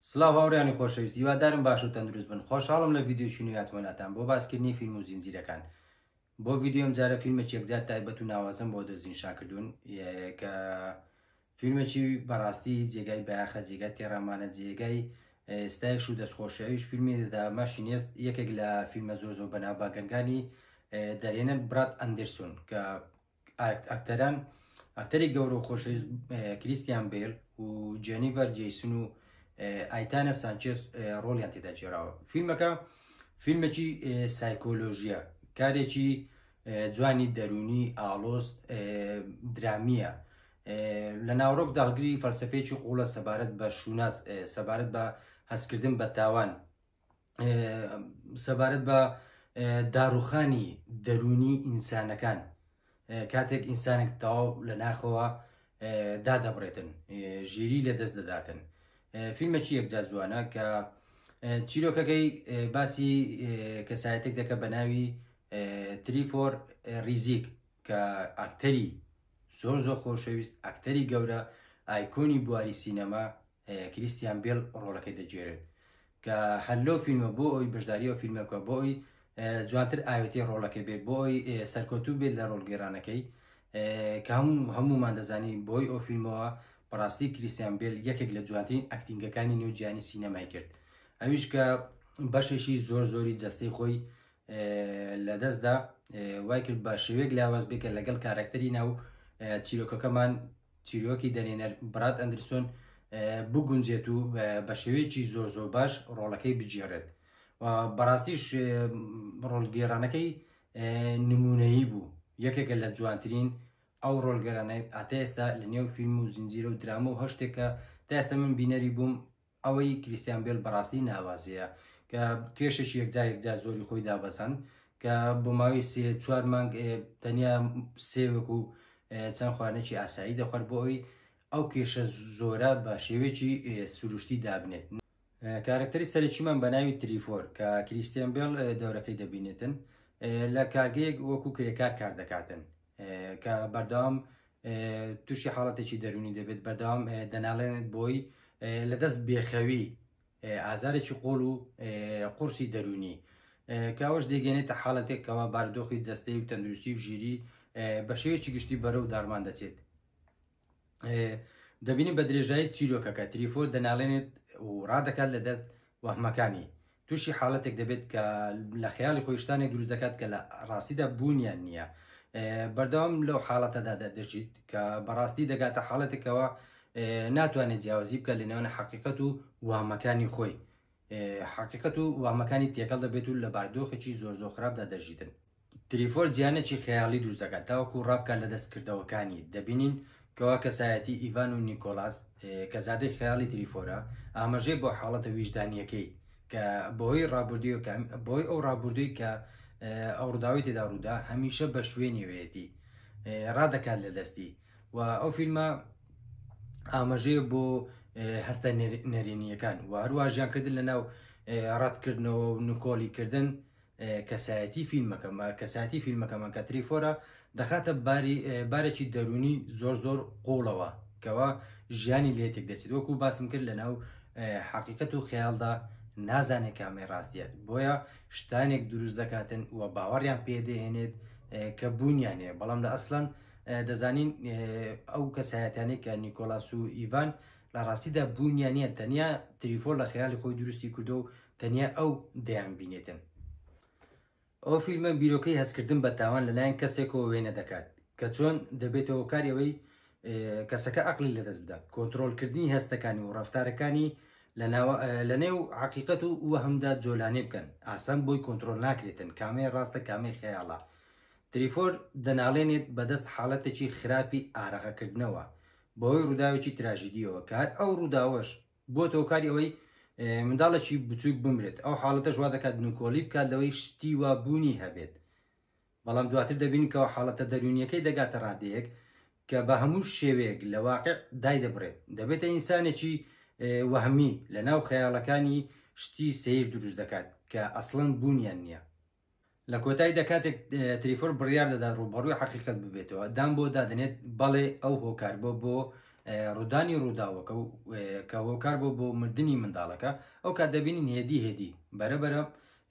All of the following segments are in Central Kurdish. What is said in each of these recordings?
سڵاو هاوڕێیانی خۆشەویست هیوادارم باش و تەندروست بن خۆشحاڵم لە ڤیدیۆکی نوێیاتمەلاتان بۆ باسکردنی فیلم و زینجیرەکان بۆ ڤیدیۆ ئەمجارە فیلمێکی یەکجار تایبەت و ناوازەم بۆ دەستنیشان کردوون کە فیلمێکی بەڕاستی جێگای بایەخە جێگای تێڕامانە جێگای ستایش و دەستخۆشیویش فیلمی دەدامە شینێست یەکێک لە فیلمە زۆر زۆر بەناو باگەنگانی دەرێنن برات ئەندرسون کە ئەکتەران ئەکتەری گەورە و خۆشەویست کریستیان بێل و جێنیڤەر جیسن و ئایتانە سانچێس ڕۆڵیان تێدا جێراوە فیلمەکە فیلمێکی سایکۆلۆژیە کارێکی جوانی دەرونی ئاڵۆز درامیە لە ناوڕۆک داگری فەلسفەیەکی قوڵە سەبارەت بە شووناس سەبارەت بە هەستکردن بە تاوان سەبارەت بە داڕوخانی دەرونی ئینسانەکان کاتێک ئینسانێک تەواو لە ناخەوە دادەبڕێتن ژیری لە دەست دەداتن فیلمەکی یەکجار جوانە کە چیرۆکەکەی باسی کەسایەتێک دەکە بە ناوی تریفۆر ریزیک کە ئاکتەری زۆر زۆر خۆشەویست ئەکتەری گەورە ئایکۆنی بواری سینەما کریستیان بێل ڕۆڵەکەی دەگێرێت کە هەر لەو فیلمە بۆ ئەوی بەشداری ئەو فیلمە بکە بۆی جوانتر ئاوێتی ڕۆڵەکە بێت بۆی سەرکەوتوو بێت لە ڕۆڵگەێرانەکەی کە هەموو هەمومان دەزانی بۆی ئەو فیلمەوە بەڕاستی کریسیان بێل یەکێک لە جوانترین ئەکتینگەکانی نێوجیانی سینەمای کرد ئەویش کە بەشێکی زۆر زۆری جەستەی خۆی لە دەستدا وای کرد بە شێوێک لاواز بێکە لەگەڵ کارەکتەری ناو چیرۆکەکەمان چیرۆکی دەرێنەر براد ئەندرسۆن بگونجێت و بە شێوەیەکی زۆر زۆر باش ڕۆڵەکەی بگێڕێت بەڕاستیش ڕۆڵگێرانەکەی نمونەیی بوو یەکێکە لە جوانترین ئەو ڕۆلگەرانە ئاتێستا لە نێو فیلم و زنجیرە و درامە و هەشتێکە دەستە من بینەری بووم ئەوەی کریستیان بێل بەڕاستی ناوازەیە کە کێشێکی یەکجا یەکجا زۆری خۆی دابەزاند کە بۆ ماوەی سێ چوار مانگ تەنیا سێوێک و چەند خوانێکی ئاسایی دەخوارد بۆ ئەوی ئەو کێشە زۆرە بە شێوێکی سروشتی دابنێت کارکتەری سەرەکیمان بە ناوی تریفۆر کە کریستیان بێڵ دەورەکەی دەبینێتن لە کارگەیەک وەکو کرێکار کار دەکاتن کە بەردەوام تووشی حاڵەتێکی دەرونی دەبێت بەدەوام دەناڵێنێت بۆی لە دەست بێخەوی ئازارێکی قۆڵ و قورسی دەرونی کاوەش دەگەێنێتە حاڵەتێکەوە باردۆخی جەستەی و تەندروستی و ژیری بە شێوێکی گشتی بەرە و داڕمان دەچێت دەبینی بە درێژایی چیرۆکەکە تریفۆ دەناڵێنێت و ڕادەکات لە دەست وەحمەکانی تووشی حاڵەتێک دەبێت کە لە خەیاڵی خۆی شتانێک دروست دەکات کە لە ڕاستیدا بوونیان نییە بەردەوام لەو حاڵەتەدا دەژیت کە بەڕاستی دەگاتە حاڵەتێکەوە ناتوانێت جیاوازی بکە لە نێوانە حقیقەت و وامەکانی خۆی حقیقەت و وامەکانی تێکەڵ دەبێت و لە باردۆخێکی زۆر زۆر خراپدا دەژیتن تریفۆر جیهانێکی خەیاڵی دروست دەکات تاوەکو ڕابکات لە دەستکردەوەکانی دەبینین کەوا کەسایەتی ئیڤان و نیکۆلاس کە زادەی خەیاڵی تریفۆرە ئاماژەی بۆ حاڵەتە ویژدانیەکەی کە بەهۆی ڕابردووی کە بۆی ئەو ڕابردووی کە ئەو ڕووداوی تێدا ڕوودا هەمیشە بە شوێنی وێتی ڕادەکات لە دەستی و ئەو فیلمە ئاماژەیە بۆ هەستە نەرێنیەکان و هەروە ژیانکردن لە ناو ڕەتکردنەوە و نکۆڵی کردن کەسایەتی فیلمەکە مە کەسایەتی فیلمەکەمان کە تریفۆرە دەخاتە باری بارێکی دەروونی زۆر زۆر قوڵەوە کەوا ژیانی لێ تێک دەچێت وەکو باسم کرد لەناو حەقیقەت و خەیاڵدا نازانێت کامێ ڕاستیت بۆیە شتانێک دروست دەکاتن و باوەڕیان پێدەێنێت کە بوونیان هەیە بەڵام لە ئەسلان دەزانین ئەو کەسایەتانی کە نیکۆلاس و ئیڤان لە ڕاستیدا بوونیان نیە تەنیا تریفۆر لە خەیالی خۆی دروستی کردو و تەنیا ئەو دەیانبینێتن. ئەو فیلمە بیرۆکەی هەستکردن بە تاوان لەلایەن کەسێکەوە وێنە دەکات کە چۆن دەبێتە هۆکاری ئەوەی کەسەکە عقلی لەدەست بدات کۆنتترۆلکردنی هەستەکانی و ڕفتارەکانی لە نێو عقیقەت و وەهمدا جۆلانێ بکەن ئاسان بۆی کۆنتترۆل ناکرێتن کامێ ڕاستە کامێ خەیاڵە تریفۆر دەناڵێنێت بەدەست حاڵەتێکی خراپی ئارەغەکردنەوە بەهۆی ڕووداوێکی تراژیدیەوە کار ئەو ڕووداوەش بۆت هۆکاری ئەوەی منداڵێکی بچووک بمرێت ئەو حاڵەتەش وا دەکات نوکۆڵی بکات لەوەی شتی وا بوونی هەبێت بەڵام دواتر دەبینکەوە حاڵەتە دەرونیەکەی دەگاتە ڕادەیەک کە بە هەموو شێوەیەک لە واقع دای دەبڕێت دەبێتە ئینسانێکی وەهمی لە ناو خەیاڵەکانی شتی سیر دروست دەکات کە ئەسڵەن بوونیان نییە لە کۆتاییدا کاتێک تریفۆر بڕیار دەدات ڕووبەڕووی حەقیقەت ببێتەوە دان بۆ دادنێت بەڵێ ئەو هۆکار بۆ بۆ ڕوودانی ڕووداوەکە و کە هۆکار بۆ بۆ مردنی منداڵەکە ئەو کات دەبینین هێدی هێدی بەرەبەرە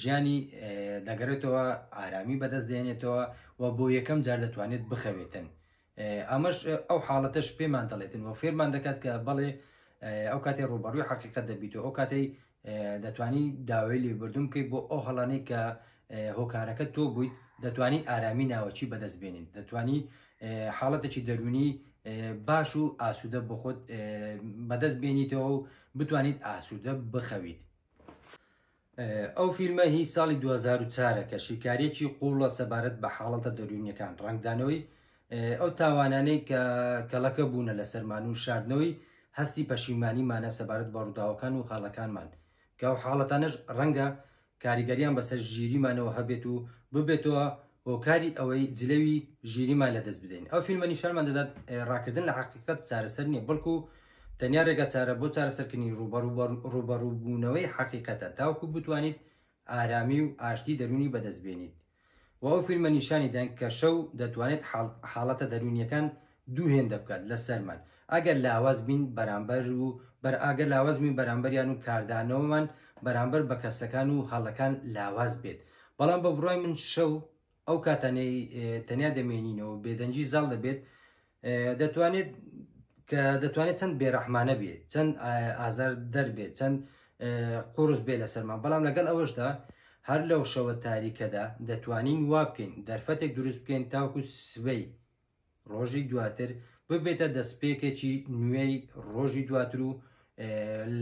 ژیانی دەگەرێتەوە ئارامی بەدەست دێنێتەوە و بۆ یەکەم جار دەتوانێت بخەوێتن ئەمەش ئەو حاڵەتەش پێمان دەڵێتن و فێرمان دەکات کە بەڵێ ئەو کاتێ ڕوبەڕوی حقیقت دەبییتەوە ئەو کاتەی دەتوانی داوای لێبردوم کەی بۆ ئەو هەڵانەی کە هۆکارەکە تۆ بوویت دەتوانی ئارامی ناوەچی بەدەست بێنین دەتوانی حاڵەتێکی دەرونی باش و ئاسوودە بۆ خۆت بەدەست بێنیتەوە و بتوانیت ئاسوودە بخەویت ئەو فیلمە هی ساڵی دوو هەزار و چوار ە کە شیکاریەکی قووڵە سەبارەت بە حاڵەتە دەروونیەکان، ڕەنگدانەوەی ئەو تاوانانەی کە کەڵەکە بوونە لەسەرمان و شاردنەوەی هەستی پەشیمانیمانە سەبارەت بە ڕووداوەکان و هەڵەکانمان کە ئەو حاڵەتانەش ڕەنگە کاریگەریان بەسەر ژیریمانەوە هەبێت و ببێتەوە هۆکاری ئەوەی جلەوی ژیریمان لەدەست بدەین ئەو فیلمە نیشانمان دەدات ڕاکردن لە حەقیقەت چارەسەر نیە بەڵکو تەنیا رێگاچارە بۆ چارەسەرکردنی رووبەڕووبوونەوەی حەقیقەتە تاوەکو بتوانیت ئارامی و ئاشتی دەروونی بەدەست بێنیت و ئەو فیلمە نیشانی دەن کە شەو دەتوانێت حاڵەتە دەروونییەکان دوو هێندە بکات لەسەرمان ئەگەر لاواز بین بەرامبەر و ئەگەر لاواز بین بەرامبەریان و کاردانەوەمان بەرامبەر بە کەسەکان و هەڵەکان لاواز بێت بەڵام بە بڕوای من شەو ئەو کاتانەی تەنیا دەمێنینەوە بێدەنگی زاڵ دەبێت دەتوانێت کە دەتوانێت چەند بێرەحمانە بێت چەند ئازار دەربێت چەند قورس بێ لە سەرمان بەڵام لەگەڵ ئەوەشدا هەر لەو شەوە تاریکەدا دەتوانین وا بکەین دەرفەتێک دروست بکەین تاوکو سبەی ڕۆژی دواتر ببێتە دەستپێکێکی نوێی ڕۆژی دواتر و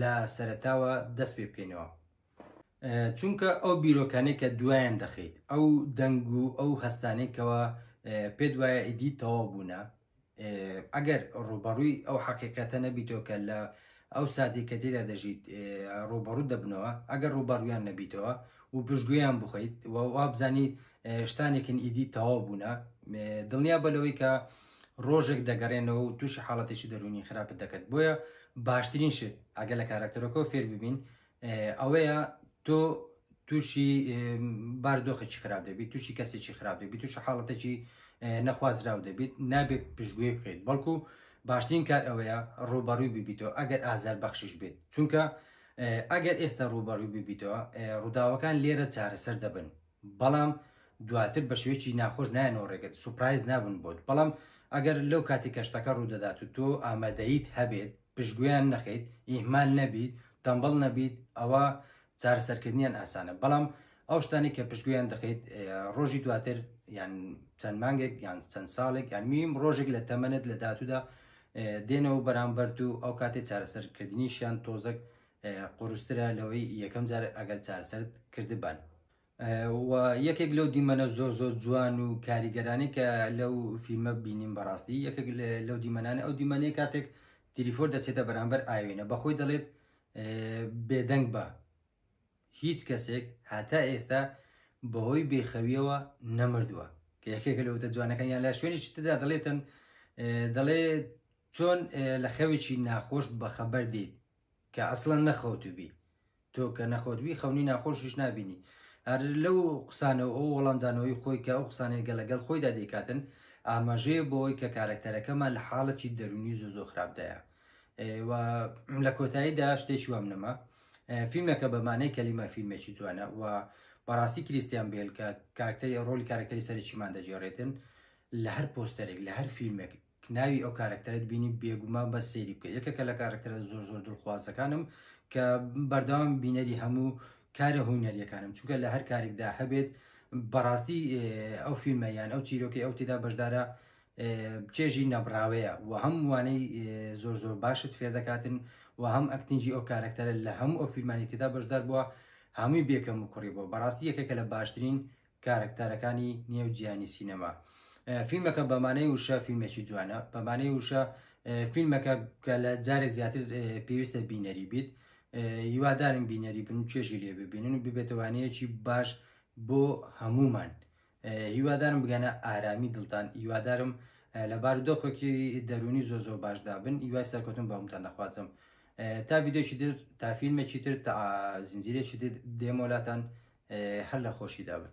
لە سەرتاوە دەست پێ بکەینەوە چونکە ئەو بیرۆکانەی کە دوایان دەخەیت ئەو دەنگ و ئەو هەستانەی کەەوە پێت وایە ئیدی تەواو بوونە ئەگەر ڕوبەڕووی ئەو حقیقەتە نەبیتەوە کە لە ئەو ساتی کە تێدا دەژیت ڕوبەڕوو دەبنەوە ئەگەر ڕوبەڕویان نەبیتەوە و پشتگویان بخیت وابزانی شتانێکن ئیدی تەواو بوونە دڵنیا بە لەوەی کە ڕۆژێک دەگەڕێنەوە و تووشی حاڵەتێکی دەرونی خراپت دەکەت بۆیە باشترین شت ئەگە لە کارکتەرەکەەوە فێر ببین ئەوەیە تۆ تووشی باردۆخێکی خراپ دەبیت تووشی کەسێکی خراپ دەبیت تووشە حاڵەتێکی نەخوازراو دەبیت نابێت پشتگوێ بکەیت بەڵکو باشترین کار ئەوەیە ڕوبەڕووی ببیتەوە ئەگەر ئازار بەخشش بێت چونکە ئەگەر ئێستا ڕوبەڕووی ببیتەوە ڕووداوەکان لێرە چارەسەر دەبن بەڵام دواتر بە شێوەیەکی ناخۆش نایەنەوە ڕێگەت سوپایز نابن بۆت بەڵام ئەگەر لەو کاتی کەشتەکە ڕوودەدات و تۆ ئامادەیت هەبێت پشتگوێیان نەخەیت ئیهمال نەبیت تەمبەڵ نەبیت ئەوا چارەسەرکردنیان ئاسانە بەڵام ئەو شتانەی کە پشتگوێیان دەخەیت ڕۆژی دواتر یان چەند مانگێک یان چەند ساڵێک یان میم ڕۆژێک لە تەمەنت لە داتودا دێنەوە بەرامبەرت و ئەو کاتێ چارەسەرکردنیشیان تۆزەک قورسترە لەوەی یەکەم جار ئەگەر چارەسەرت کردبن و یەکێک لەو دیمەنە زۆر زۆر جوان و کاریگەرانی کە لەو فیلمە بینیم بەڕاستی یەکێک لەو دیمەنانە ئەو دیمەنەیە کاتێک تریفۆر دەچێتە بەرامبەر ئاوێنە بەخۆی دەڵێت بێدەنگ بە هیچ کەسێک هاتا ئێستا بەهۆی بێخەویەوە نەمردووە کە یەکێک لەوتە جوانەکان یان لە شوێنی شتدا دەڵێتن دەڵێ چۆن لە خەوێکی ناخۆش بەخەبەر دیت کە ئەسڵەن نەخەوتوبی تۆ کە نەخەوتبی خەونی ناخۆشیش نابینی هەر لەو قسانەوە ئەو وەڵامدانەوەی خۆی کە ئەو قسانەی گەڵ لەگەڵ خۆیدا دەیکاتن ئاماژەیە بۆی کە کارەکتەرەکەمان لە حاڵەکی دەرونی زۆ زۆ خراپدایە و لە کۆتاییدا شتێکی وام نەما فیلمەکە بەمانەی کەلیمە فیلمێکی جوانە و بەڕاستی کریسیان بێل کە کارکتەری ڕۆلی کارکتەری سەرچیمان دەجێڕێتن لە هەر پۆستەرێک لە هەر فیلمێک کە ناوی ئەو کارەکتەرەت بینی بێگومان بەس سەیری بکە یەکێکە لە کارەکتەرە زۆر زۆر دڵخوازەکانم کە بەردەوام بینەری هەموو کارە هونەریەکانم چونکە لە هەر کارێکدا هەبێت بەڕاستی ئەو فیلمە یان ئەو چیرۆکی ئەو تێدا بەشدارە چێژی نەبراوەیە و هەم وانەی زۆر زۆر باشت فێر دەکاتن و هەم ئەکتنجی ئەو کارەکتەرە لە هەموو ئەو فیلمانی تێدا بەشدار بووە هەمووی بێکەم و کوڕی بۆ بەڕاستی یەکێکە لە باشترین کارەکتەرەکانی نێو جیهانی سینەما. فیلمەکە بە مانای وشە فیلمێکی جوانە، بە مانای وشە فیلمەکە کە لە جارێک زیاتر پێویستە بینەری بیت. هیوادارم بینەری بن و چێژی لێ ببینن و ببێتە وانەیەکی باش بۆ هەموومان. هیوادارم بگەنە ئارامی دڵتان، هیوادارم لە بارودۆخێکی دەروونی زۆر زۆر باشدا بن، هیوای سەرکەوتن بۆ هەمووتان دەخوازم. تا ڤیدیۆیەکی تر، تا فیلمێکی تر، تا زنجیرەیەکی تر دێمە لاتان، هەر لە خۆشیدا بن.